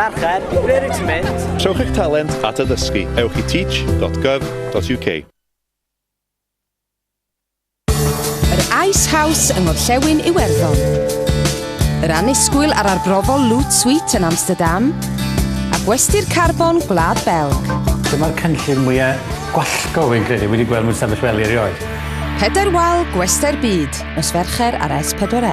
Mercher, ble rwyt ti'n mynd? Trowch eich talent at addysgu, ewch i teach.gov.uk. Yr Ice House yng Ngorllewin Iwerddon. Yr annisgwyl ar arbrofol Loot Suite yn Amsterdam a gwesty'r carbon Gwlad Belg. Dyma'r cynllun mwyaf gwallgo fi'n credu wedi gweld mewn sefyll wely erioed. Pedair wal gwestai'r byd, nos Fercher ar S4C.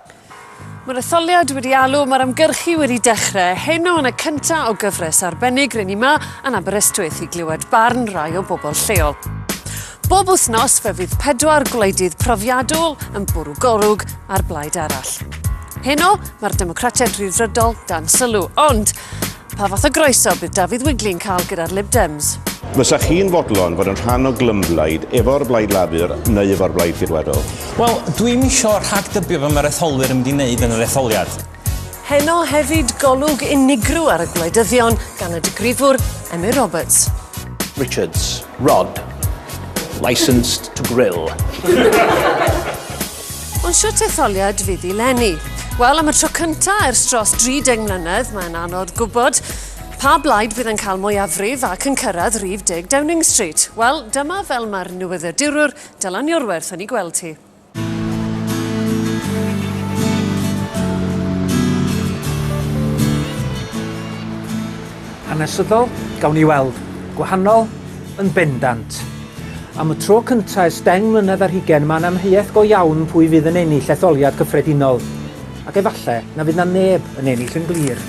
Mae'r etholiad wedi alw, mae'r ymgyrchu wedi dechrau. Heno yn y cyntaf o gyfres arbennig, rydyn ni yma yn Aberystwyth i glywed barn rai o bobl lleol. Bob wythnos fe fydd pedwar gwleidydd profiadol yn bwrw golwg ar blaid arall. Heno, mae'r Democratiaid Rhyddfrydol dan sylw, ond Pa fath o groeso bydd Dafydd Wigley'n cael gyda'r Lib Dems? Fysa chi'n fodlon fod yn rhan o glymblaid efo'r Blaid Lafur neu efo'r Blaid Ceidwadol? Wel, dwi'm isio rhagdybio fy mae'r etholwyr yn mynd i wneud yn yr etholiad. Heno hefyd golwg unigryw ar y gwleidyddion gan y digrifwr Emyr Roberts. Richards, Rod, licensed to grill. Ond shwt etholiad fydd i Lenny? Wel, am y tro cyntaf ers dros 30 mlynedd, mae'n anodd gwybod pa blaid fydd yn cael mwyafrif ac yn cyrraedd rif 10 Downing Street. Wel, dyma fel mae'r newyddiadurwr Dylan Iorwerth yn ei gweld hi. Hanesyddol, gawn ni weld. Gwahanol, Yn bendant. Am y tro cyntaf ers deng mlynedd ar hugain mae 'na amheuaeth go iawn pwy fydd yn ennill etholiad cyffredinol. Ac efallai na fydd 'na neb yn ennill yn glir.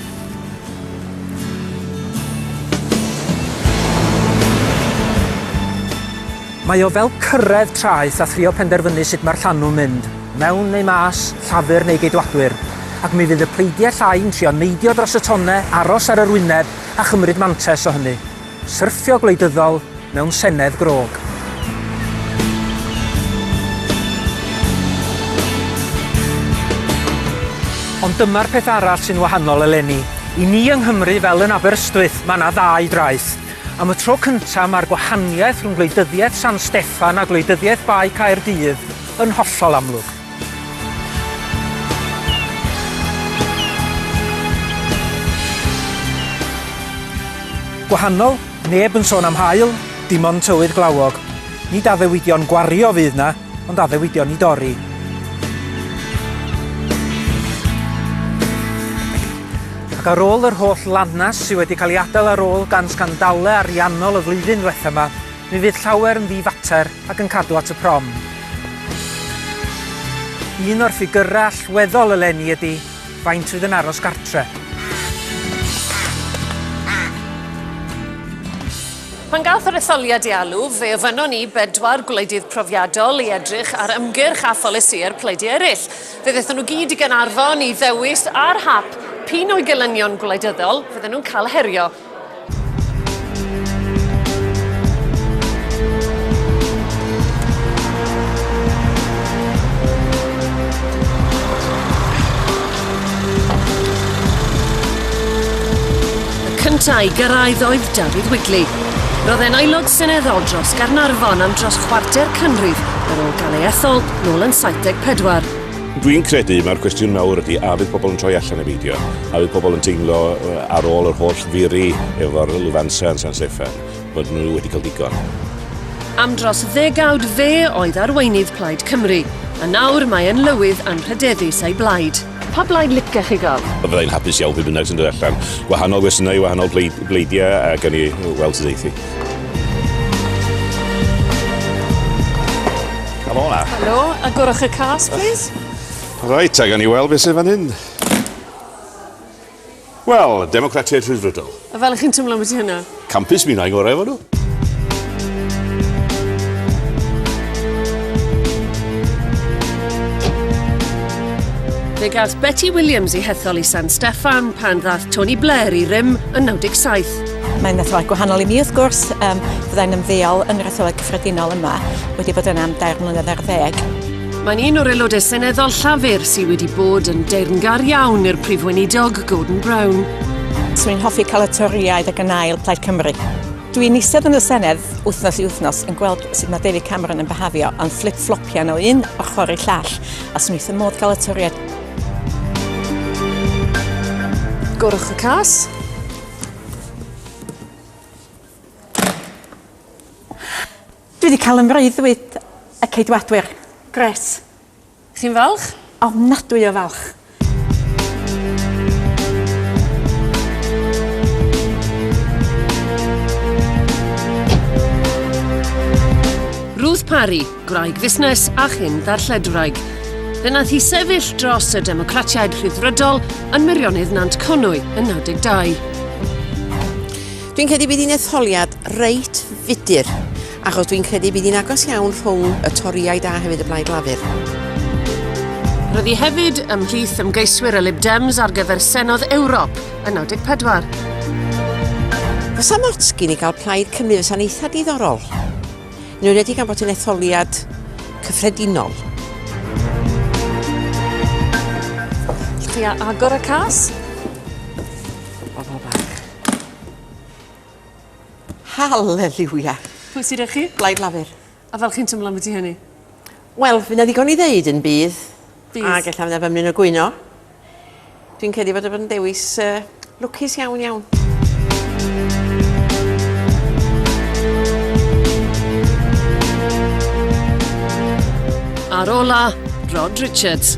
Mae o fel cyrraedd traeth a thrio penderfynu sut mae'r llanw'n mynd, mewn neu mas, Llafur neu Geidwadwyr. Ac mi fydd y pleidiau llai yn trio neidio dros y tonnau, aros ar yr wyneb a chymryd mantais o hynny. Syrthio gwleidyddol mewn senedd grog. Ond dyma'r peth arall sy'n wahanol eleni. I ni yng Nghymru, fel yn Aberystwyth, mae 'na ddau draeth. Am y tro cynta' mae'r gwahaniaeth rhwng gwleidyddiaeth San Steffan a gwleidyddiaeth Bae Caerdydd yn hollol amlwg. Gwahanol, neb yn sôn am haul, dim ond tywydd glawog. Nid addewidion gwario fydd 'na, ond addewidion i dorri. Ac ar ôl yr holl lanast sy wedi cael ei adael ar ôl gan sgandalau ariannol y flwyddyn ddiwetha' 'ma, Mi fydd llawer yn ddi-fater ac yn cadw at y prom. Un o'r ffigyrau allweddol eleni ydy faint fydd yn aros gartre. Pan gath yr etholiad ei alw, fe ofynnon ni bedwar gwleidydd profiadol i edrych ar ymgyrch a pholisïau'r pleidiau eraill. Fe ddaethon nhw gyd i Gaernarfon i ddewis ar hap p'un o'i gelynion gwleidyddol fydden nhw'n cael herio. Y cyntaf i gyrraedd oedd Dafydd Wigley. Roedd e'n aelod seneddol dros Gaernarfon am dros chwarter canrif ar ôl gael ei ethol nôl yn 74. Dwi'n credu mae'r cwestiwn mawr ydy a fydd pobl yn troi allan i beidio? A fydd pobl yn teimlo ar ôl yr holl furi efo'r lwfansau yn San Steffan bod nhw wedi cael digon? Am dros ddegawd fe oedd arweinydd Plaid Cymru, a nawr mae yn lywydd anrhydeddus ei blaid. Pa blaid licech chi gael? Fyddai'n hapus iawn pwy bynnag sy'n dod allan. Gwahanol gwestiynau, wahanol bleid, bleidiau a gan ni weld sydd eithi. Come on now. Helo, agorwch y cas, please. Reit, ag ni weld beth sydd fan hyn. Wel, Democratiaid Rhydfrydol. A fel chi'n tymlo am y ti hynna? Campus mi na i gorau efo nhw. Fe gath Betty Williams ei hethol i San Steffan pan ddath Tony Blair i rym yn 97. Mae'n etholaeth gwahanol i mi wrth gwrs, um, fyddai'n ymddeol yn yr etholaeth cyffredinol yma, wedi bod yna am dair mlynedd ar ddeg. Mae'n un o'r aelodau seneddol Llafur sydd wedi bod yn deyrngar iawn i'r Prif Weinidog Gordon Brown. Swn i'n hoffi cael y Torïaid ag yn ail Plaid Cymru. Dwi'n eistedd yn y Senedd wythnos i wythnos yn gweld sut mae David Cameron yn behafio yn fflip-flopian o un ochr i llall a swn i'n modd cael y Torïaid. Gorwch y cas. Dwi wedi cael ymreuddwyd y Ceidwadwyr. Gret. Chi'n falch? Ofnadwy o falch. Ruth Parry, Gwraig fusnes a chyn ddarlledwraig. Fe nath hi sefyll dros y Democratiaid Rhyddfrydol yn Meirionnydd Nant Conwy yn 92. Dwi'n credu bydd hi'n etholiad reit fudur, achos dwi'n credu bydd hi'n agos iawn rhwng y Toriaid a hefyd y Blaid Lafur. Roedd hi hefyd ymhlith ymgeiswyr y Lib Dems ar gyfer Senodd Ewrop yn 94. Fysa mots gyn i gael plaid Cymru fysa'n eitha diddorol. Yn enwedig gan bod hi'n etholiad cyffredinol. Lle a agor y cas? Bobol bach. Haleliwia! Pwy sy 'da chi? Blaid Lafur. A fel chi'n tymlo ambiti hynny? Wel, fy' 'na ddigon i ddeud yn bydd. Bydd. Ag ella fy' 'na fymryn o gwyno. Dwi'n credu bod o fod yn dewis uh, lwcus iawn iawn. Ar ola, Rod Richards.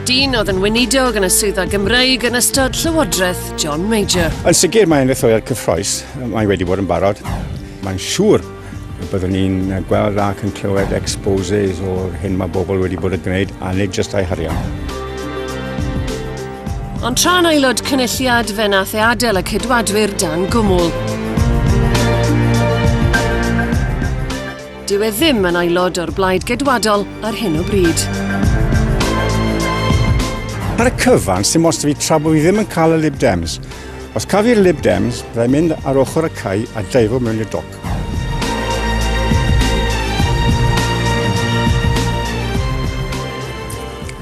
Dyn oedd yn weinidog yn y swyddfa Gymraeg yn ystod Llywodraeth John Major. Yn sicr mae'n etholiad cyffroes, mae wedi bod yn barod. Mae'n siŵr Byddwn ni'n gweld ac yn clywed exposes o'r hyn mae bobl wedi bod yn gwneud a nid jyst eu harian. Ond tra'n aelod cynulliad fe nath e adael y cydwadwyr dan gwmwl. Dyw e ddim yn aelod o'r blaid gedwadol ar hyn o bryd. Ar y cyfan, sy'n most i fi tra bod fi ddim yn cael y Lib Dems, Os caf i'r Lib Dems, byddai mynd ar ochr y cae a daivo mewn i'r doc.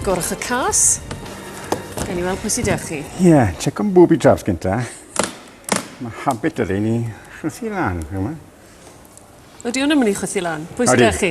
Gorwch y cas. Gawn ni weld pwy sydd â chi. Ie, yeah, check o'n booby traps gynta. Mae habit ydy ni chwythu lan, yma. Ydy o'n ymwneud chwythu lan? Pwy sydd â chi?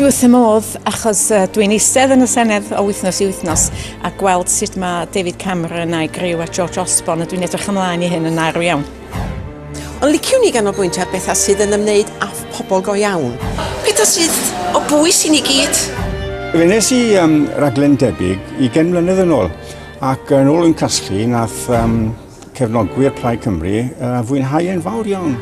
Dwi wrth y modd achos dwi'n eistedd yn y Senedd o wythnos i wythnos a gweld sut mae David Cameron a'i griw a George Osborne a dwi'n edrych ymlaen i hyn yn arw iawn. Ond liciwn i ganolbwyntio ar bethau sydd yn ymwneud â phobl go iawn. Pethau sydd o bwys i ni gyd. Wnes i um, raglen debyg i gen mlynedd yn ôl ac yn ôl yn casglu nath um, Cefnogwyr Plaid Cymru a uh, fwynhau yn fawr iawn.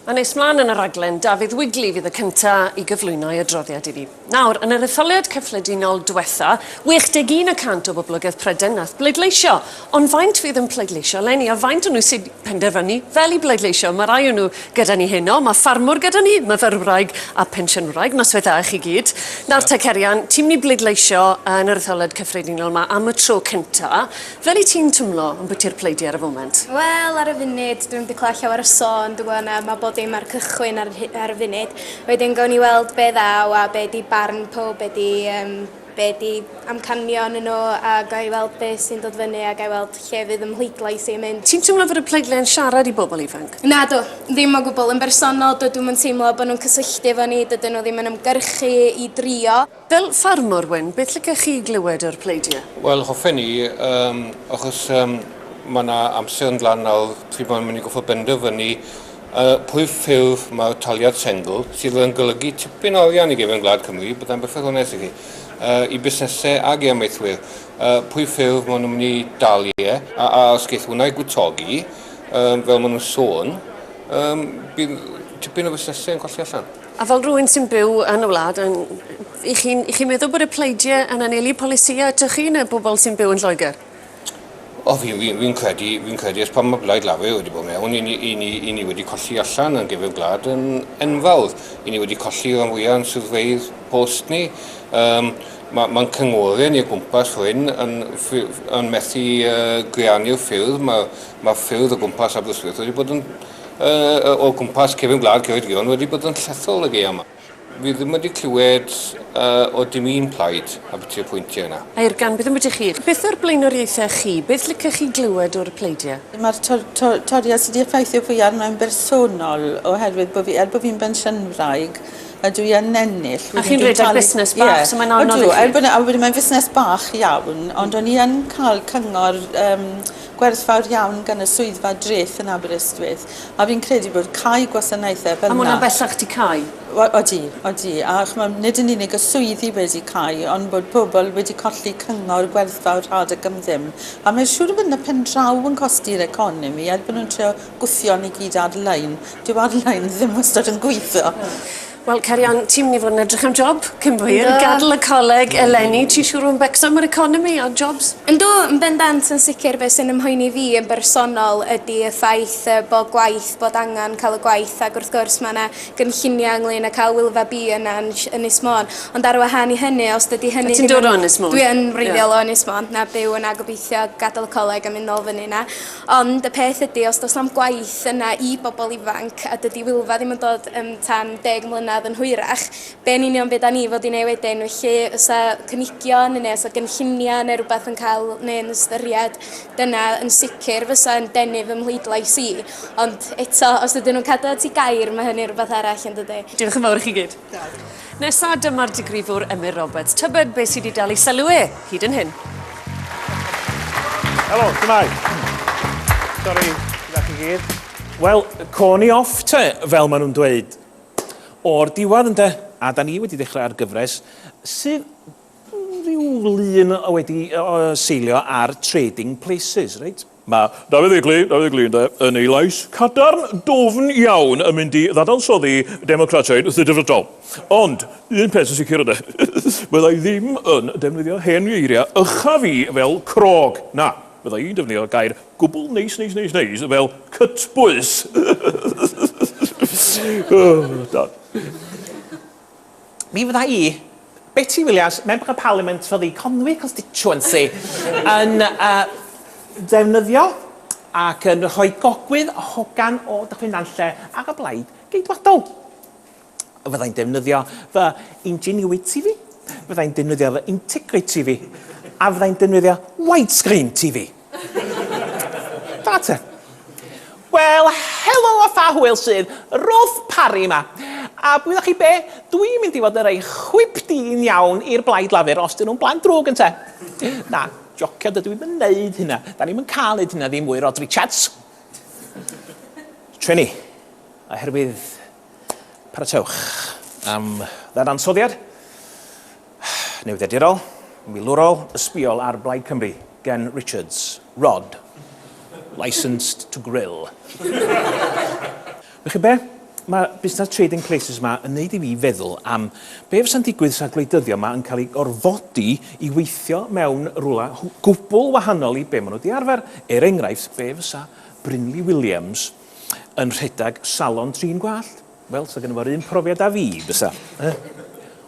A nes mlaen yn y raglen, Dafydd Wigley fydd y cyntaf i gyflwyno ei adroddiad i fi. Nawr, yn yr etholiad cyffredinol diwetha, 61 y cant o boblogaidd Pryden nath bleidleisio, Ond faint fydd yn pleidleisio eleni? A faint o nhw sy'n penderfynu fel i bleidleisio? Mae rai o nhw gyda ni heno. Mae ffarmwr gyda ni, myfyrwraig a phensiynwraig. Noswaith dda i chi gyd. Nawr te, Cerian, ti'n mynd i bleidleisio yn yr Etholed Cyffredinol yma am y tro cynta. Fel i ti'n twmlo ambwti'r pleidi ar y foment? Wel, ar y funud, dwi'm 'di clywed llawer o sôn, dwi'n gwybod na, mae bob dim ar y cychwyn ar y rhi- ar y funud. Wedyn gawn ni weld be ddaw a be 'di barn powb, be 'di yym be ydi amcanion y no a ga i weld be sy'n dod fyny a ga i weld lle fydd ym mhleidlais i yn mynd. Ti'n teimlo fod y pleidlais yn siarad i bobl ifanc? Nadw, ddim o gwbl. Yn bersonol, dydw i'm yn teimlo bod nhw'n cysylltu efo ni, dydyn nhw ddim yn ymgyrchu i drio. Fel ffarmwr, Wyn, beth licech chi glywed o'r pleidiau? Wel, hoffen ni, achos mae 'na amser yn dda nawr, dwi ddim yn mynd i gorfod benderfynu A phrif ffurf mae'r taliad sengl, sydd yn golygu tipyn o arian i gefn gwlad Cymru, byddai'n berffaith onest i chi, i busnesau ac i amaethwyr. A phrif ffurf maen nhw'n mynd i dalu e, a os geith hwnna ei gwtogi, fel maen nhw'n sôn, bydd tipyn o fusnesau yn colli allan. A fel rhywun sy'n byw yn y wlad, y'ch chi'n meddwl bod y pleidiau yn anelu polisïau atoch chi, neu'r bobl sy'n byw yn Lloegr? O, fi'n fi, fi credu, fi'n credu ers pan mae Blaid Lafur wedi bod mewn, i ni, i ni, i ni wedi colli allan yn gefn gwlad yn enfawr. I ni wedi colli rhan fwyaf yn swyddfeydd post ni. Um, Mae'n ma cyngorau ni o gwmpas hyn yn, yn methu uh, greanu'r ffyrdd. Mae ma ffyrdd o gwmpas Aberystwyth wedi bod yn, uh, o gwmpas cefn gwlad Ceredigion wedi bod yn llethol y geia yma. Fi ddim wedi clywed uh, o dim un plaid a byti y pwyntiau yna. Air gan bydd yn byty chi. Beth yw'r blaenoriaethau chi? Beth licech chi glywed o'r pleidiau? Mae'r tor, tor, toriad sydd wedi effeithio fwy arno'n bersonol oherwydd bod fi, er bod fi'n bensiynwraig, a dwi yn ennill. A chi'n rhedeg busnes bach, yeah. so mae'n anodd Odw, i chi. Er bod, a wedi mae'n fusnes bach iawn, ond mm. o'n i yn cael cyngor um, gwerthfawr iawn gan y swyddfa dreth yn Aberystwyth. A fi'n credu bod cau gwasanaethau fel 'na... A ma' hwnna bellach 'di cau? Wel, odi, odi. A ch'mod, nid yn unig y swyddi wedi cau, ond bod pobl wedi colli cyngor gwerthfawr rhad ac am ddim. A mae'n siŵr bod 'na pen draw yn cosi'r economi, er bod nhw'n trio gwthio ni gyd ar-lein. Dyw ar-lein ddim wastad yn gweithio. Wel cer iawn, ti myn' i fod yn edrych am job cyn bo hir. Yndw. Gadl y coleg eleni ti siŵr o fo' yn becso am yr economi a jobs. Yndw yn bendant yn sicir be' sy'n 'y mhoeni fi yn bersonol ydi y ffaith yy bo' gwaith bod angan ca'l y gwaith ag wrth gwrs ma' 'na gynllunia ynglŷn â ca'l Wylfa Bee yna yn sh- Ynys Môn ond ar wahân i hynny os dydi hynny ddim yn... Wyt ti'n dod o Ynys Môn? Dwi yn wreiddiol o Ynys Môn. Na byw yna gobeithio gadel y coleg a myn' nôl fyny 'na. Ond y peth ydy, os does na'm gwaith yna i bobl ifanc, a dydy Wylfa ddim yn dod yn tan deg mlynedd yn hwyrach, be yn union fyddan ni fod i wneud wedyn? Felly, os a cynigion neu os a gynlluniau neu rhywbeth yn cael neu yn ystyried, dyna yn sicr fysa yn denu fy mhleidlais i. Ond eto, os ydyn nhw'n cadw at eu gair, mae hynny'n rhywbeth arall, yn dydy? Diolch yn fawr i chi gyd. Nesa dyma'r digrifwr Emyr Roberts. Tybed beth sydd wedi dal i sylw e hyd yn hyn? Helo, tymau. Sori, gyda chi gyd. Wel, corn i off te, fel maen nhw'n dweud. O'r diwedd ynde, a da ni wedi dechrau ar gyfres sydd rhyw lun wedi seilio ar Trading Places, reit? Mae Dafydd Egli, Dafydd Egli ynde, yn ei lais cadarn dwfn iawn yn mynd i ddadansoddi Democratiaid Difrydol. Ond, un peth yn sicr ynde, fydda i ddim yn defnyddio hen geiriau ucha fi fel crog, na, fydda i'n defnyddio gair gwbl neis neis neis neis fel cytbwys. Dad. Mi fydda i, Betty Williams, Member of Parliament for the Conwy Constituency, yn uh, defnyddio ac yn rhoi gogwydd hogan o Dyffryn Nantlle ar y blaid geidwadol. Fydda i'n defnyddio fy ingenuity fi, fydda i'n defnyddio fy integrity fi, a fydda i'n defnyddio widescreen TV. Da te. Wel, helo a pha hwyl sydd, Rolf Parry yma. A gwyddoch chi be, dwi'n mynd i fod yn rhoi chwip dyn iawn i'r Blaid Lafur os dyn nhw'n blant drwg, ynte? Na, jocio, dydw i'm yn neud hynna. Da ni'm yn cael neud hynna ddim mwy, Rod Richards. Trini, oherwydd Paratowch am ddadansoddiad newyddiadurol, milwrol, ysbïol ar Blaid Cymru gan Richards, Rod, licensed to grill. Wych chi be? Mae busnes Trading Places yma yn neud i fi feddwl am be fysa'n digwydd sa'r gwleidyddion yma yn cael eu gorfodi i weithio mewn rwla gwbl wahanol i be maen nhw wedi arfer. Er enghraifft, be fysa Brinley Williams yn rhedeg salon trin gwallt. Wel, sa gynno fo'r un profiad â fi, bysa? Eh?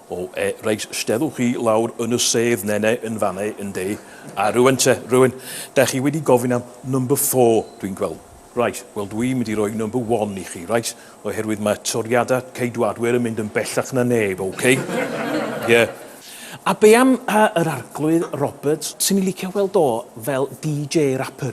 O, e, reit, steddwch chi lawr yn y sedd nene yn fanne, yndê? A rŵan te, rŵan, da chi wedi gofyn am number four, dwi'n gweld. Reit, wel dwi'n mynd i roi number one i chi, reit? Oherwydd mae toriadau Ceidwadwyr yn mynd yn bellach na neb, OK? Ie. A be am yr Arglwydd Roberts? Swn i'n licio weld o fel DJ rapper.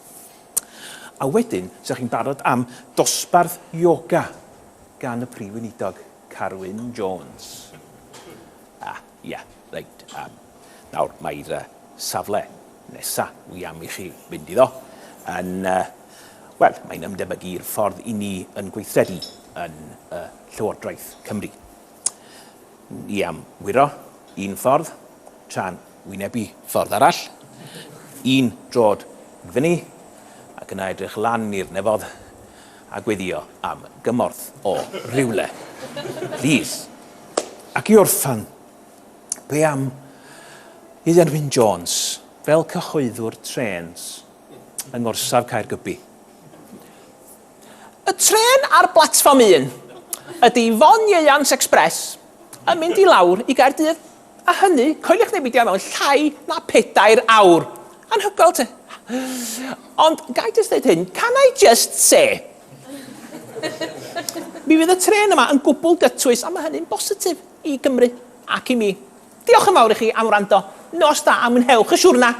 A wedyn, sa chi'n barod am dosbarth ioga gan y Prif Weinidog, Carwyn Jones. A, ia, reit, yym, nawr, mae'r yy safle nesa' wi am i chi fynd iddo yn yy, wel, mae'n ymdebygu'r ffordd 'yn ni yn gweithredu yn yy Llywodraeth Cymru. i am wyro un ffordd tra'n wynebu ffordd arall, un drod yn fyny ac yna edrych lan i'r nefodd a gweddio am gymorth o rywle, plîs. Ac i orffen, be am i Dderwyn Jones, fel cyhoeddwr trêns yng ngorsaf Caergybi, Y trên ar blatfform un ydy Fon Ieuans Express yn mynd i lawr i Gaerdydd, a hynny, coeliwch neu beidio, mewn llai na pedair awr. Anhygoel te. Ond gai jyst ddeud hyn, can I just say? Mi fydd y trên yma yn gwbl gytwys a mae hynny'n bositif i Gymru ac i mi. Diolch yn fawr i chi am wrando, nos da a mwynhewch y siwrna!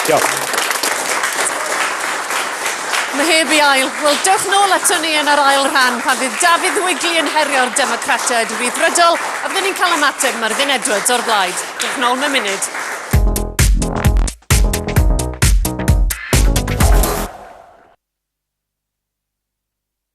Diolch. Mae heb i ail. Wel, dewch nôl ato ni yn yr ail rhan pan fydd Dafydd Wigley yn herio'r Democratiaid Rhyddfrydol a byddwn ni'n cael ymateb Myrddin Edwards o'r blaid. Dewch nôl mewn munud.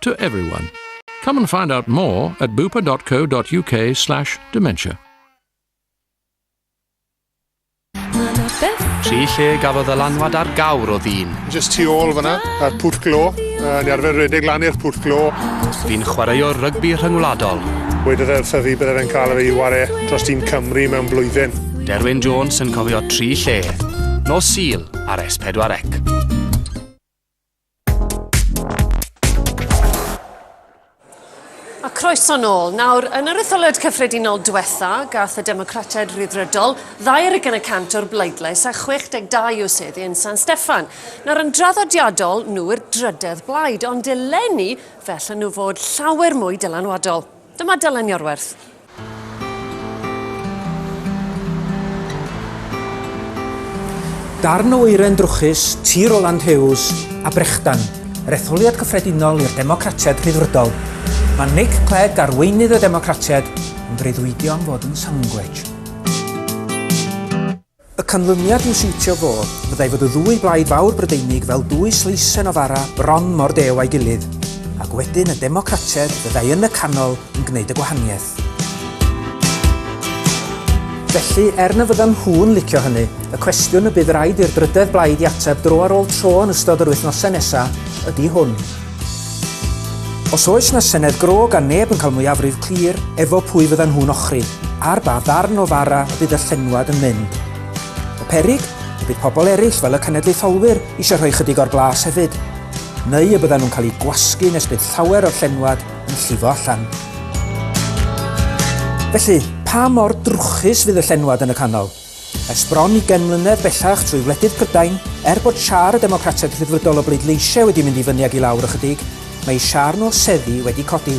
to everyone. Come and find out more at bupa.co.uk slash dementia. Tri lle gafodd y lanwad ar gawr o ddyn. Just tu ôl fyna, a'r pwll glo. Uh, ni arfer redeg lan i'r pwll glo. Fi'n chwaraeo rygbi rhyngwladol. Wedodd e wrtho fi byddai'n cael ei ware dros dyn Cymru mewn blwyddyn. Derwyn Jones yn cofio tri lle. Nos Sil ar S4 Ec. A croeso nôl. Nawr, yn yr etholiad cyffredinol diwetha, gath y Democratiaid Rhyddfrydol ddau ar ugain y cant o'r bleidlais a 62 o seddi yn San Steffan. Nawr, yn draddodiadol, nhw yw'r drydedd blaid, ond eleni fe allan nhw fod llawer mwy dylanwadol. Dyma Dylan Iorwerth. Darn o oeren drwchus, tir o Land Hughes a Brechdan, yr etholiad cyffredinol i'r Democratiaid Rhyddfrydol. Mae Nick Clegg, arweinydd y Democratiaid, yn breuddwydio am fod yn sangwech. Y canlyniad i'w siwtio fo fyddai fod y ddwy blaid fawr Brydeinig fel dwy sleisen o fara bron mor dew â'i gilydd, ac wedyn y Democrateg fyddai yn y canol yn gwneud y gwahaniaeth. Felly, er na fyddan nhw'n licio hynny, y cwestiwn y bydd raid i'r drydedd blaid i ateb dro ar ôl tro yn ystod yr wythnosau nesaf ydi hwn. Os oes 'na senedd gro gan neb yn cael mwyafrif clir efo pwy fyddan nhw'n ochri, ar ba ddarn o fara y bydd y llenwad yn mynd? Y peryg? Y bydd pobl eraill fel y cenedlaetholwyr eisiau rhoi chydig o'r blas hefyd? Neu y byddan nhw'n cael eu gwasgu nes bydd llawer o'r llenwad yn llifo allan? Felly, pa mor drwchus fydd y llenwad yn y canol? Ers bron ugain mlynedd bellach trwy wledydd Prydain, er bod siâr y Democratiaid Rhyddfrydol o bleidleisiau wedi mynd i fyny ac i lawr ychydig, mae siâr nhw o seddi wedi codi,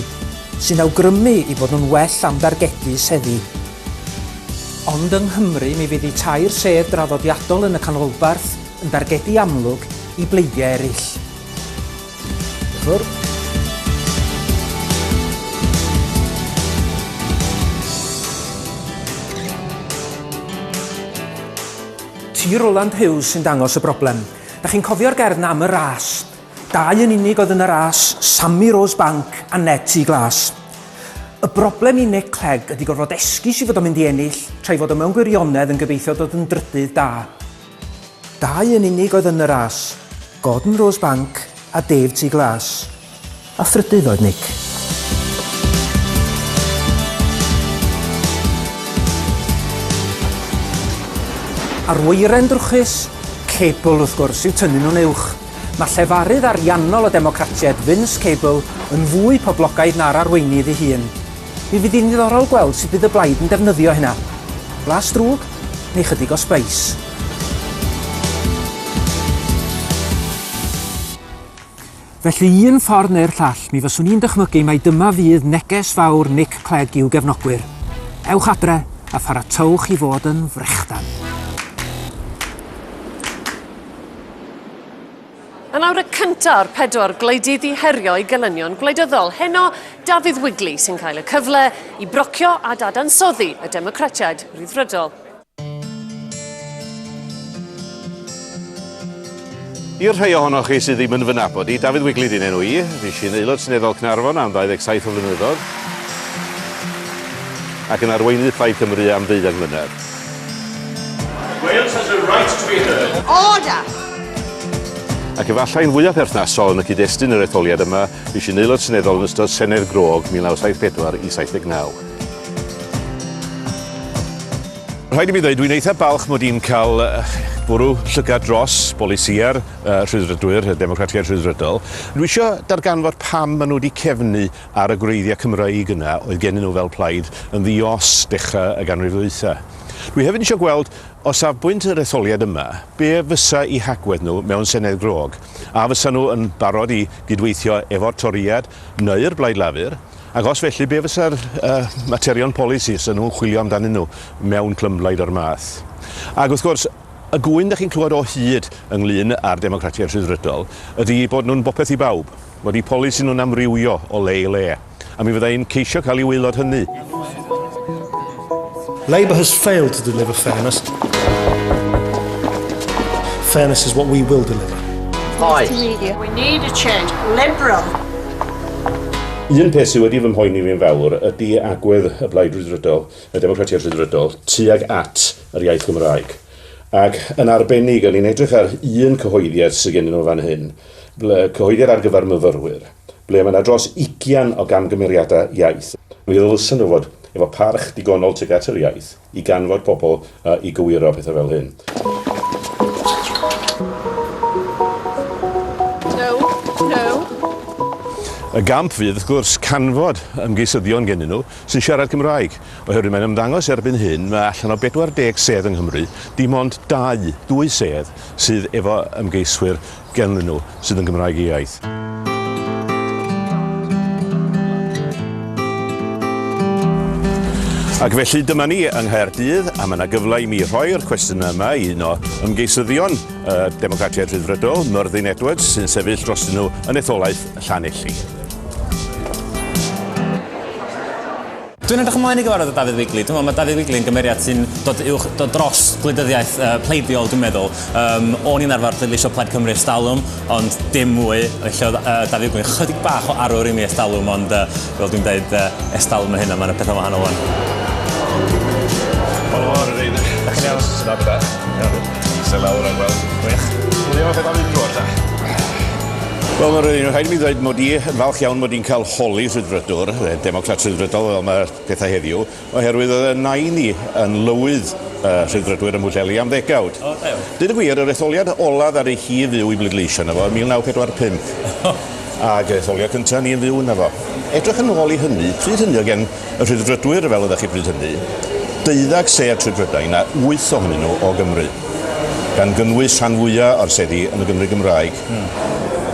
sy'n awgrymu eu bod nhw'n well am dargedu seddi. Ond yng Nghymru mi fydd eu tair sedd draddodiadol yn y canolbarth yn dargedu amlwg i bleidiau eraill. Diolch Ti Roland Hughes sy'n dangos y broblem. Da chi'n cofio'r gerdd na am y ras? Dau yn unig oedd yn y ras, Sammy Rose Bank a Ned T Glas. Y broblem i Nick Clegg ydy gorfod esgus i fod o'n mynd i ennill, tra i fod o mewn gwirionedd yn gobeithio dod yn drydydd da. Dau yn unig oedd yn y ras, Gordon Rosebank a Dave Tŷ Glas. A thrydydd oedd Nick. A'r wyren drwchus? Cable, wrth gwrs, yw tynnu nhw'n uwch. Mae llefarydd ariannol y Democratiaid, Vince Cable, yn fwy poblogaidd na'r arweinydd ei hun. Mi fydd hi'n ddiddorol gweld sut bydd y blaid yn defnyddio hynna. Blas drwg, neu chydig o sbeis. Felly, un ffordd neu'r llall, mi fyswn i'n dychmygu mai dyma fydd neges fawr Nick Clegg i'w gefnogwyr, Ewch adre a pharatowch i fod yn frechdan! Yn awr y cyntaf o'r pedwar gwleidydd i herio eu gelynion gwleidyddol, heno Dafydd Wigley sy'n cael y cyfle i brocio a dadansoddi y Democratiaid Rhyddfrydol. I'r rhai ohonoch chi sydd ddim yn fy nabod i, Dafydd Wigley di'n enw i. Fi sy'n aelod seneddol Cnarfon am 27 o flynyddoedd ac yn arweinydd Plaid Cymru am ddeuddeg mlynedd. Wales has a right to be heard. Order! Ac efallai yn fwyaf perthnasol yn y cyd-destun yr etholiad yma, fues i'n aelod seneddol yn ystod Senedd Grôg 1974 i 79. Rhaid i mi ddweud, dwi'n eitha balch mod i'n cael bwrw llygad dros bolisiau'r uh, rhydrydwyr, y Democratiaid Rhydrydol. Dwi eisiau darganfod pam maen nhw wedi cefnu ar y gwreiddiau Cymreig yna oedd gennyn nhw fel plaid yn ddi-os dechrau y ganrif ddwytha. Dwi hefyd eisiau gweld, o safbwynt yr etholiad yma, be fysa i hagwedd nhw mewn Senedd grog. A fysa nhw yn barod i gydweithio efo'r Torïad neu'r Blaid Lafur, ac os felly, be fysa'r uh, materion polisi fysa nhw'n chwilio amdanyn nhw mewn clymblaid o'r math. Ac wrth gwrs, y gŵyn da chi'n clywed o hyd ynglyn â'r Democratiaid Rhyddfrydol ydy bod nhw'n bopeth i bawb. Bod y polisi nhw'n amrywio o le i le, a mi fydda i'n ceisio cael i waelod hynny. Labour has failed to deliver fairness. Fairness is what we will deliver. Hi. We need a change. Liberal. Un peth sydd wedi fy mhoeni fi'n fawr ydy agwedd y Blaid Rhyddfrydol, y Democratiaid Rhyddfrydol, tuag at yr iaith Gymraeg. Ac yn arbennig, o'n i'n edrych ar un cyhoeddiad sydd gennyn nhw fan hyn, Ble cyhoeddir ar gyfer myfyrwyr, ble mae 'na dros ugian o gamgymeriadau iaith, mi ddylsen nhw fod efo parch digonol tuag at yr iaith i ganfod pobl a i gywiro pethau fel hyn. Y gamp fydd, wrth gwrs, canfod ymgeisyddion gennyn nhw sy'n siarad Cymraeg, oherwydd mae'n ymddangos erbyn hyn, mae allan o 40 sedd yng Nghymru, dim ond dau, dwy sedd, sydd efo ymgeiswyr ganddyn nhw sydd yn Gymraeg eu iaith. Ac felly dyma ni yng Nghaerdydd a mae yna gyfle i mi rhoi'r cwestiynau yma i un o ymgeisyddion y Democratiaid Rhyddfrydol, Myrddin Edwards, sy'n sefyll dros nhw yn etholaeth Llanelli. Dwi'n edrych ymlaen i gyfarfod â Dafydd Wigley. Dwi'n meddwl mae Dafydd Wigley yn gymeriad sy'n dod, uwch, dod dros gwleidyddiaeth uh, pleidiol, dwi'n meddwl. Um, o'n i'n arfer ddylisio Plaid Cymru ers dalwm, ond dim mwy. Felly oedd uh, Dafydd Wigley chydig bach o arwr i mi ers dalwm, ond uh, fel dwi'n dweud, uh, ers dalwm yn hyn, a mae'n pethau wahanol o'n. Helo, ar yr eidir. Da chi'n iawn? Da, da. Iawn. Se lawr ar weld. Wych. Dwi'n meddwl beth am un drwy'r da. Wel, mae'n rhaid, rhaid i mi ddweud mod i yn falch iawn bod ni'n cael holi rhydfrydwr, eh, democrat rhydfrydol fel mae'r pethau heddiw, oherwydd oedd y nain i yn lywydd uh, rhydfrydwyr ym Mhwllheli am ddegawd. O, da iawn. Dyn y gwir, yr etholiad olaf ar ei hi fyw i bleidleisio yna fo yn 1945. Ac etholiad cyntaf ni yn fyw yna fo. Edrych yn ôl i hynny, pryd hynny o gen Y Rhyddfrydwyr, fel oeddech chi bryd hynny, deuddag sedd trwy Brydain a wyth ohonyn nhw o Gymru, gan gynnwys rhan fwya o'r seddi yn y Gymru Gymraeg.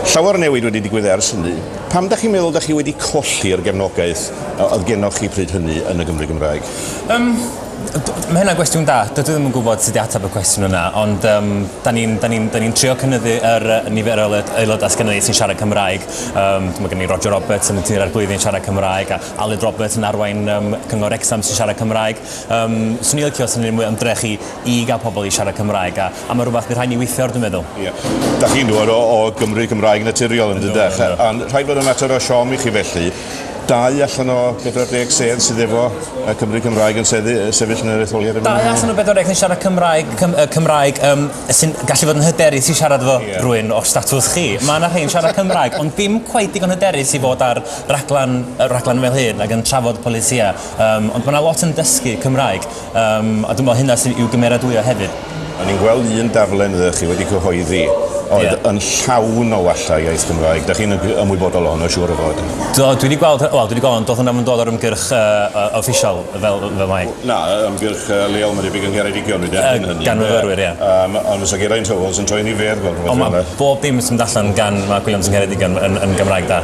Llawer o newid wedi digwydd ers hynny. Pam dach chi'n meddwl dach chi wedi colli'r gefnogaeth oedd genoch chi pryd hynny yn y Gymru Gymraeg? Yym, mae hynna'n gwestiwn da. Dydw i ddim yn gwybod sut i ateb y cwestiwn yna, ond um, da ni'n da ni, da ni trio cynnyddu yr uh, nifer o aelodau sydd gennym ni sy'n siarad Cymraeg. Um, mae gen i Roger Roberts yn y tîm ar blwyddyn siarad Cymraeg, a Aled Roberts yn arwain um, Cyngor Wrecsam sy'n siarad Cymraeg. Um, swn i'n licio sy'n ni'n mwy ymdrech i, i gael pobl i siarad Cymraeg, a, a mae rhywbeth bydd rhaid ni weithio ar, dwi'n meddwl. Ie. Yeah. Da chi'n dod o, o Gymru Cymraeg naturiol yn dydech, a rhaid bod yn mater o siom i chi felly. Dau allan o 40 sedd sydd efo y Cymru Cymraeg yn seddi, sefyll yn yr etholiad yma. Dau allan o 40 yn siarad Cymraeg, Cym, uh, Cymraeg um, sy'n gallu fod yn hyderus i siarad efo yeah. rwy'n o'r statws chi. Mae yna rhai'n siarad Cymraeg, ond dim cwaith digon hyderus i fod ar rhaglen, rhaglen fel hyn ac yn trafod polisïau, um, ond mae yna lot yn dysgu Cymraeg, um, a dwi'n meddwl hynna sydd i'w gymeradwyo hefyd. O'n i'n gweld un darllen ydych chi wedi cyhoeddi oedd yeah. yn llawn o walla iaith Gymraeg. Da chi'n ymwybodol o hwnnw, siŵr o fod? Do, dwi wedi gweld, wel, dwi wedi gweld, doedd hwnna'n dod o'r ymgyrch uh, official fel, fel mae. Na, ymgyrch uh, leol mae debyg yng Ngheredigion, dwi'n derbyn uh, hynny. Gan fyfyrwyr, ie. Yeah. Um, ond fysa Geraint Howells yn troi ni fer gweld rhywbeth fel yna. Bob dim sy'n mynd allan gan Mark Williams yng Ngheredigion yn, yn Gymraeg da.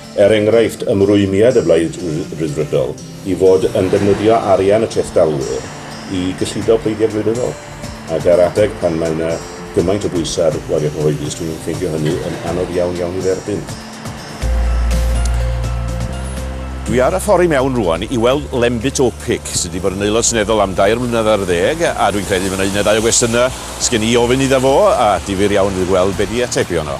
er enghraifft, ymrwymiad y Blaid Ryddfrydol i fod yn defnyddio arian y trethdalwyr i gyllido pleidiau gwleidyddol, ac ar adeg pan mae yna gymaint o bwysau ar waliau cyhoeddus, dwi'n ffeindio hynny yn anodd iawn iawn i dderbyn. Dwi ar y ffordd i mewn rŵan i weld Lembit Opik, sydd wedi bod yn Aelod Seneddol am dair mlynedd ar ddeg, a dwi'n credu mae yna un neu ddau o gwestiynau 'sgen i i ofyn iddo fo, a difyr iawn fydd gweld be 'di atebion o.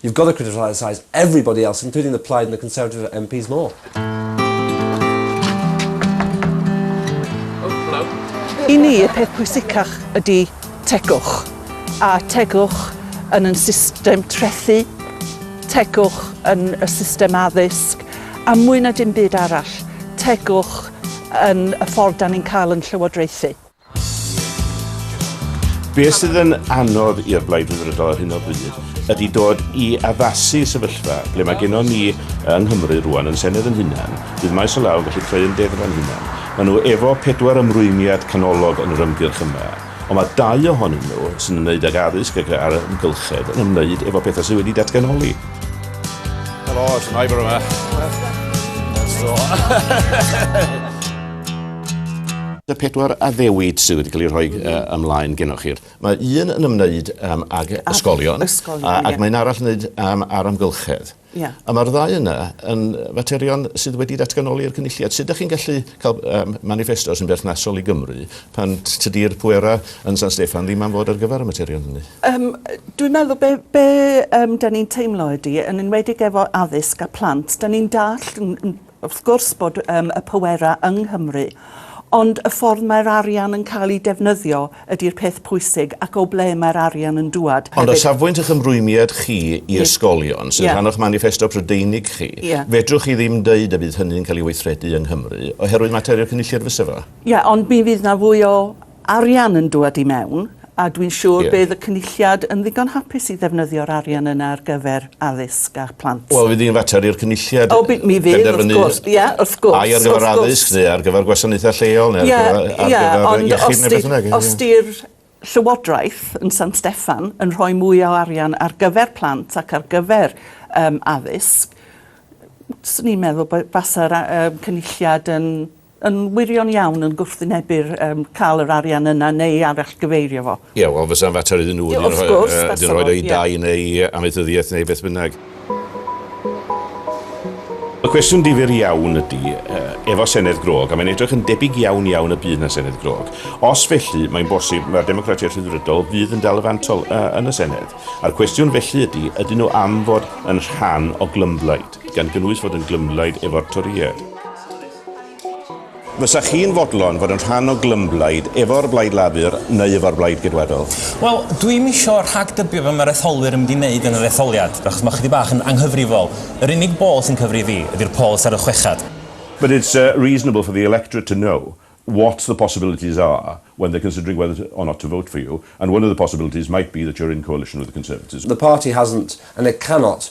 You've got to criticise everybody else, including the Plaid and the Conservative MPs more. I ni, y peth pwysicach ydy tegwch. A tegwch yn yn system trethu, tegwch yn y system addysg, a mwy na dim byd arall, tegwch yn y ffordd da ni'n cael yn llywodraethu. Be sydd yn anodd i'r Blaid Rhyddfrydol ar hyn o bryd ydy dod i addasu sefyllfa ble mae gennon ni yng Nghymru rwan yn Senedd yn hunan, bydd maes o law yn gallu creu ymdeddfa'n hunan. Mae nhw efo pedwar ymrwymiad canolog yn yr ymgyrch yma, ond mae dau ohonyn nhw, sy'n ymwneud ag addysg ac a'r amgylchedd, yn ymwneud efo pethau sydd wedi datganoli. Helo, it's a neighbour yma. Y pedwar addewid sydd wedi cael eu rhoi uh, ymlaen gennych chi. Mae un yn ymwneud um, ag ysgolion, ysgolion a, ac yeah. mae'n arall yn ymwneud um, ar amgylchedd. Yeah. A mae'r ddau yna yn faterion sydd wedi datganoli'r cynulliad. Sut ydych chi'n gallu cael um, manifesto sy'n berthnasol i Gymru pan tydi'r pwerau yn San Steffan ddim am fod ar gyfer y materion hynny? Um, dwi'n meddwl be, be um, da ni'n teimlo ydy, yn enwedig efo addysg a plant, da ni'n dall yn, yn, Wrth gwrs bod um, y pwerau yng Nghymru, ond y ffordd mae'r arian yn cael ei defnyddio ydy'r peth pwysig ac o ble mae'r arian yn dŵad hefyd. Ond o safbwynt eich ymrwymiad chi i ysgolion, sy'n yeah. rhan o'ch maniffesto Prydeinig chi, yeah. fedrwch chi ddim dweud y bydd hynny'n cael ei weithredu yng Nghymru, oherwydd materion cynulliad fysa fo? Ie, yeah, ond mi fydd na fwy o arian yn dŵad i mewn, a dwi'n siŵr bydd y Cynulliad yn ddigon hapus i ddefnyddio'r arian yna ar gyfer addysg a phlant. Wel, fydd hi'n fater i'r Cynulliad benderfynu... O, mi fydd, wrth gwrs, ie, wrth gwrs... Ai ar gyfer addysg, neu ar gyfer gwasanaethau lleol, neu ar gyfer iechyd, neu beth bynnag. Ie, ie, ond os 'di'r Llywodraeth yn San Steffan yn rhoi mwy o arian ar gyfer plant ac ar gyfer addysg, 'swn i'n meddwl fasa'r Cynulliad yn yn wirion iawn yn gwrthwynebu'r yym ca'l yr arian yna neu arallgyfeirio fo. Ie, wel fysa'n fater iddyn nhw wedyn rhoi o yy wedyn rhoid o i Dai neu amaethyddiaeth neu beth bynnag. Y cwestiwn difyr iawn ydy, efo Senedd Grog, a mae'n edrych yn debyg iawn iawn y bydd 'na Senedd Grog, os felly mae'n bosib mae'r Democratiaid Rhyddfrydol fydd yn dal y fantol yn y Senedd, a'r cwestiwn felly ydy, ydyn nhw am fod yn rhan o glymblaid, gan gynnwys fod yn glymblaid efo'r Torïaid? Fysa chi'n fodlon fod yn rhan o glymblaid efo'r Blaid Lafur neu efo'r Blaid Geidwadol? Wel, dwi'm isio rhagdybio be mae'r etholwyr yn mynd i wneud yn yr etholiad, achos mae ychydig bach yn anghyfrifol. Yr unig bol sy'n cyfri i fi ydy'r polls ar y chweched. But it's reasonable for the electorate to know what the possibilities are when they're considering whether or not to vote for you, and one of the possibilities might be that you're in coalition with the Conservatives. The party hasn't, and it cannot,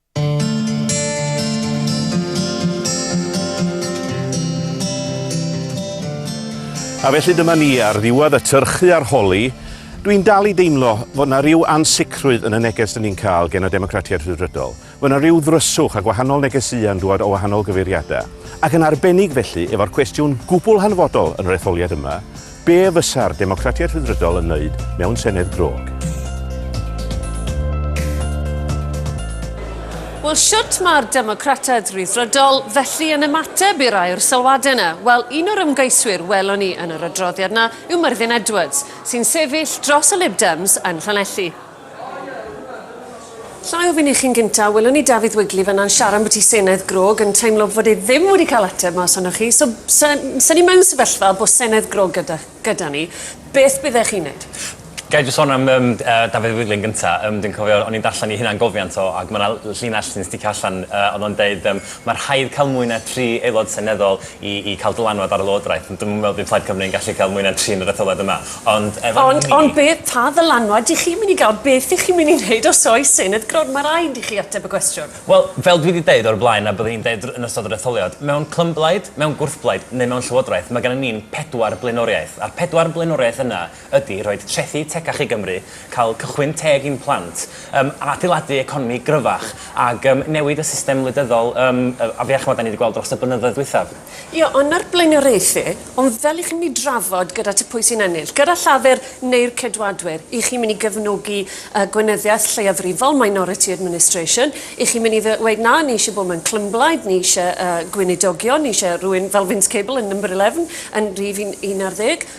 A felly dyma ni ar ddiwedd y tyrchu a'r holi. Dwi'n dal i deimlo fod yna rhyw ansicrwydd yn y neges dyn ni'n cael gen y Democratiaid Rhyddfrydol. Fod yna rhyw ddryswch a gwahanol negesïau yn dŵad o wahanol gyfeiriadau. Ac yn arbennig felly efo'r cwestiwn gwbl hanfodol yn yr etholiad yma, Be fysa'r Democratiaid Rhyddfrydol yn wneud mewn Senedd grog? Wel, shwt mae'r Democratiaid Rhyddfrydol felly yn ymateb i'r air sylwadau yna? Wel, un o'r ymgeiswyr welon ni yn yr adroddiad yna yw Myrddin Edwards, sy'n sefyll dros y Lib Dems yn Llanelli. Lla i ofyn i chi'n gynta, welwn ni Dafydd Wigley fan'na'n siarad ambwti i Senedd Grog yn teimlo fod e ddim wedi cael ateb mas ohonoch chi. So, sa, sa ni mewn sefyllfa bo Senedd Grog gyda, gyda ni, beth byddech chi'n neud? Ga i jyst son am yym yy Dafydd Wigley yn gynta. Yym dwi'n cofio o'n i'n darllen i hunangofiant o ac ma' 'na l- llinell sy'n sticio allan yy o'dd o'n deud yym ma' rhaid ca'l mwy na tri aelod seneddol i i ca'l dylanwad ar y lywodraeth ond dwi'm yn me'wl bydd Plaid Cymru yn gallu ca'l mwy na tri yn yr etholad yma ond efo ni... Ond ond beth pa ddylanwad dych chi'n myn' i ga'l beth dych chi'n myn' i neud os oes un wrth gwrs ma' raid i chi ateb y gwestiwn. Wel fel dwi 'di deud o'r blaen a byddwn i'n deud yn ystod yr etholiad mewn clymblaid mewn gwrthblaid neu mewn llywodraeth ma' gynnon ni'n pedwar blaenoriaeth a'r pedwar blaenoriaeth yna ydy rhoid trethi tecach i Gymru, cael cychwyn teg i'n plant, yym adeiladu economi gryfach ag yym newid y system wleidyddol yym a fe ch'mod 'dan ni 'di gweld dros y blynyddoedd dwythaf. Ie ond na'r blaenoriaethu, ond fel i chi myn' i drafod gyda ti pwy sy'n ennill, gyda Llafur neu'r Ceidwadwyr, i chi myn' i gefnogi yy gweinyddiaeth lleiafrifol, minority administration, i chi myn' i ddy- weud na ni isie bod mewn clymblaid, ni isie yy gweinidogion, ni isie rywun fel Vince Cable yn number eleven yn rhif un un ar ddeg,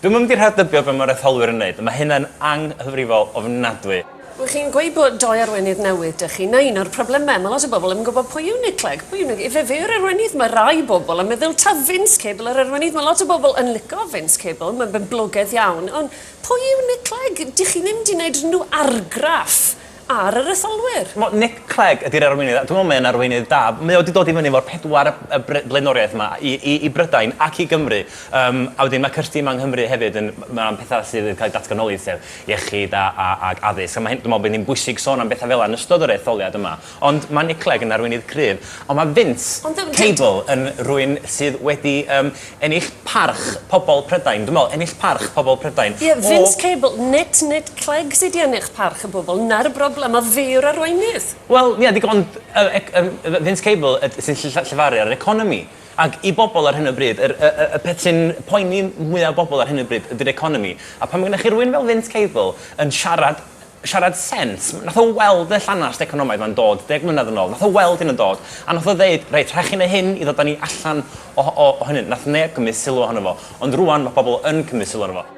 Dwi'm yn mynd i rhagdybio be' ma'r etholwyr yn neud, ma' hynna'n anghyfrifol ofnadwy. Wych chi'n gweud bod doi arweinydd newydd dych chi, 'na un o'r probleme, ma' lot o bobl ddim yn gwybod pwy yw Nick Clegg, pwy yw Nick, ife fe yw'r arweinydd? Ma' rai bobl yn meddwl ta Vince Cable yr arweinydd, ma' lot o bobl yn lico Vince Cable, ma'n boblogedd iawn, ond pwy yw Nick Clegg? Dych chi ddim 'di neud unrhyw argraff ar y resolwyr. Ch'mo' Nick Clegg ydi'r arweinydd a dwi me'wl mae e'n arweinydd da. Mae o 'di dod i fyny efo'r pedwar yy yy bre- blaenoriaeth 'ma i i i Brydain ac i Gymru yym a wedyn ma' Kirsty yma yng Nghymru hefyd yn m- ma' petha sydd yn ca'l 'u datganoli sef iechyd a a ag addysg a ma' hyn dwi me'wl bo' hynny'n bwysig sôn am betha fela yn ystod yr etholiad yma ond ma' Nick Clegg yn arweinydd cryf on' ma' Vince Ond yym dwi... Cable yn rywun sydd wedi yym Ennill parch pobl Prydain. Dwi'n meddwl, ennill parch pobl Prydain. Ie, Vince Cable, nid Nick Clegg sydd wedi ennill parch y bobl, 'na'r broblem, a fe yw'r arweinydd. Wel, ie, digon, yy, Vince Cable yd- sy'n ll- llefaru ar yr economi. Ac i bobl ar hyn o bryd, yr, y, y, y peth sy'n poeni mwya' bobl ar hyn o bryd ydy'r economi. A pan ma' gennych chi rywun fel Vince Cable yn siarad siarad sens. Nath o weld y llanast economaidd 'ma'n dod deg mlynedd yn ôl, nath o weld hyn yn dod, a nath o ddeud, reit, rhaid chi neu' hyn i ddod â ni allan o o o hynny. Nath neb cymryd sylw ohono fo, ond rŵan ma' pobol yn cymryd sylw ohono fo.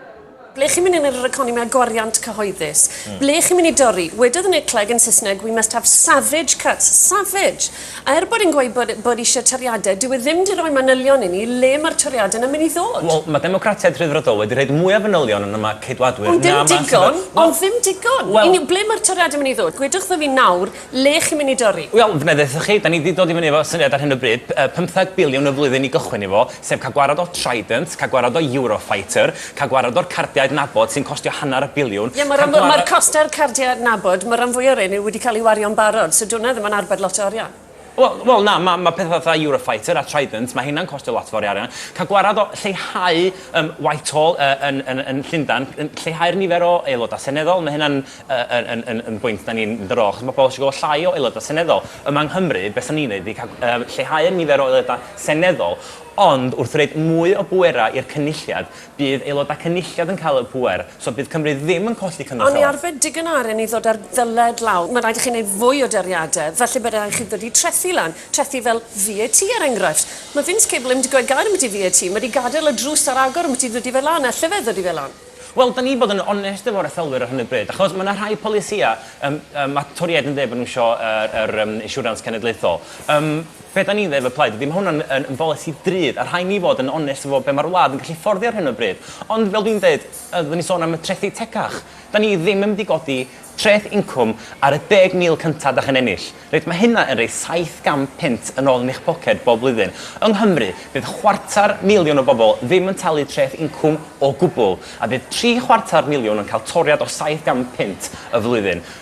Ble chi'n mynd yn yr economi a gwariant cyhoeddus? Ble chi'n mynd i dorri? Wedodd Nick Clegg yn Saesneg, we must have savage cuts. Savage! A er bod e'n gweud bod bod eisiau toriadau, dyw e ddim 'di roi manylion i ni le mae'r toriadau 'na mynd i ddod. Wel, mae Democratiaid Rhyddfrydol wedi rhoid mwy o fanylion yn y ma Ceidwadwyr Ond ddim digon, ond ddim digon. Wel, Yn, ble mae'r toriadau mynd i ddod? Gwedwch wrtho fi nawr le chi'n mynd i dorri. Wel, f'na ddeuthoch chi, 'dan ni 'di dod i fyny efo syniad ar hyn o bryd, yy pymtheg biliwn y flwyddyn i gychwyn efo, sef cael gwared o Trident, cael gwared o Eurofighter, Cael gwared o'r cardiau adnabod sy'n costio hanner y biliwn, cael gwared... Ie, mae'r costau'r cardiau adnabod, mae'r rhan fwyaf o'r rheiny wedi cael eu wario'n barod, so dyw hwnna ddim yn arbed lot o arian. Wel, wel, na, mae, mae pethau fatha Eurofighter a Trident, mae heina'n costio lot fawr o arian. Cael gwared o lleihau um, Whitehall uh, yn, yn, yn Llundain, lleihau'r nifer o aelodau seneddol, mae hynna'n uh, yn, yn, yn, yn bwynt da ni'n mynd ar ôl, achos mae pobl eisiau gweld llai o aelodau seneddol. Yma yng Nghymru, beth da ni'n neud ydy cael, uh, lleihau'r nifer o aelodau seneddol, Ond wrth roid mwy o bwerau i'r Cynulliad, bydd Aelodau Cynulliad yn cael y pŵer, so bydd Cymru ddim yn colli cymorth o Ond ni law. arbed digon o arian i ddod â'r ddyled lawr. Mae'n rhaid i chi wneud fwy o doriadau, felly bydd rhaid i chi ddod i trethi lan, trethi fel VAT er enghraifft. Mae Vince Cable ddim wedi gweud gair ambiti VAT, mae wedi gadael y drws ar agor ambiti ddodi fe lan, alle fe ddodi fe lan. Wel, dan ni bod yn onest efo'r etholwyr ar hyn o bryd, achos mae 'na rhai polisïau, yym, yym, ma' Torïaid yn deud bod nhw isio yr, yr, yym, Insiwrans Cenedlaethol. Yym. Be dan ni'n ddeud fel plaid ydi ma' hwn yn yn yn bolisi drud a rhai' ni fod yn onest efo be' ma'r wlad yn gallu fforddio ar hyn o bryd. Ond fel dwi'n deud, yy fyddwn ni'n sôn am y trethi tecach, dan ni ddim yn mynd i godi treth incwm ar y deg mil cynta' dach yn ennill. Reit, ma' hynna yn roi saith gant punt yn ôl yn eich poced bob blwyddyn. Yng Nghymru, bydd chwarter miliwn o bobl ddim yn talu treth incwm o gwbwl, a bydd tri chwarter miliwn yn cael toriad o saith gant punt y flwyddyn.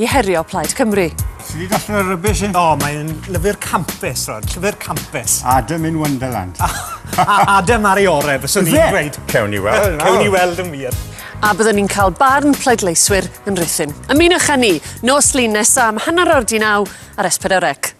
i herio Plaid Cymru. Ti wedi darllen y rybys hyn? O, mae'n lyfr campus, Rod. Llyfr campus. Adam in Wonderland. a Adam ar ei orau, fyswn i'n dweud. Cewn ni weld. Cewn ni weld yn wir a byddwn ni'n cael barn pleidleiswyr yn rhythyn. Ymunwch â ni nos lun nesaf am hanner o'r di naw ar S4C.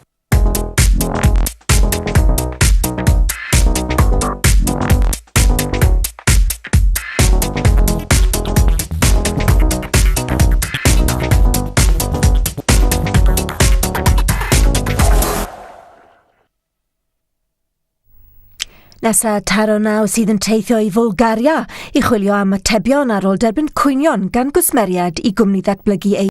Nesa taro naw sydd yn teithio i Fwlgaria i chwilio am atebion ar ôl derbyn cwynion gan gwsmeriad i gwmni ddatblygu ei